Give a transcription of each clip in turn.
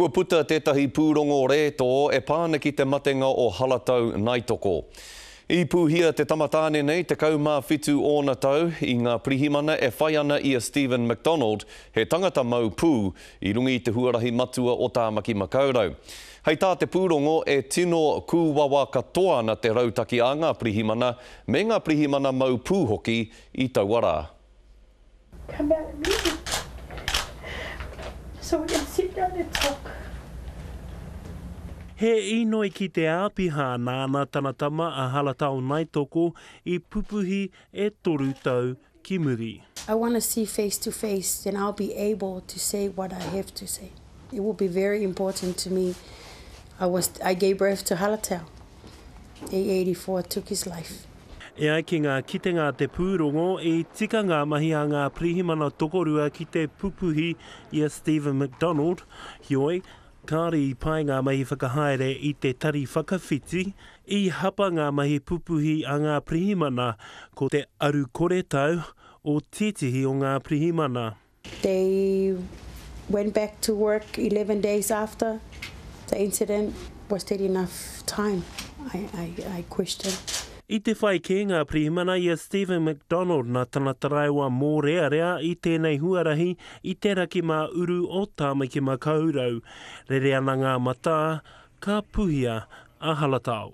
Kua puta tētahi pūrongo rētō e pā ana ki te matenga o Haratau Naitoko. I pūhia te tama tāne nei 17 ōna tau i ngā pirihimana e whai ana i a Stephen McDonald, he tangata mau pū, i runga i te huarahi matua o Tāmaki Makaurau. Hei tā te pūrongo, e tino kūwawa katoa ana te rautaki a ngā pirihimana, me ngā pirihimana mau pū hoki, i taua rā. Come out and meet me. So we can sit down and talk. He inoi ki te āpiha nāna tana tama a Haratao Naitoko i pupuhi e toru tau ki muri. I want to see face to face then I'll be able to say what I have to say. It will be very important to me. I was, I gave birth to Haratao. E84 took his life. E ai ki ngā kitenga a te pūrongo, i tika ngā mahi a ngā pirihimana tokorua ki te pupuhi i a Stephen McDonald, heoi, kāore i pae ngā mahi whakahaere i te tari whakawhiti, i hapa ngā mahi pupuhi a ngā pirihimana ko te aru koretau o tētehi o ngā pirihimana. They went back to work eleven days after the incident, was that enough time, I question. I te whai kē ngā pirihimana i a Stephen McDonald nā tana taraiwa mōrearea i tēnei huarahi i te raki mā uru o Tāmaki-makau-rau. Rere ana ngā matā, ka puhia a Haratao.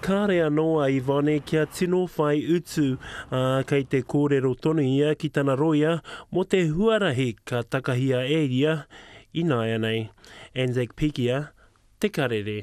Kāre anō a Yvonne kia tino whai utu, ā, kei te kōrero tonu ia ki tana rōia mō te huarahi ka takahia e ia ināianei. Anzac Pikia, Te Karere.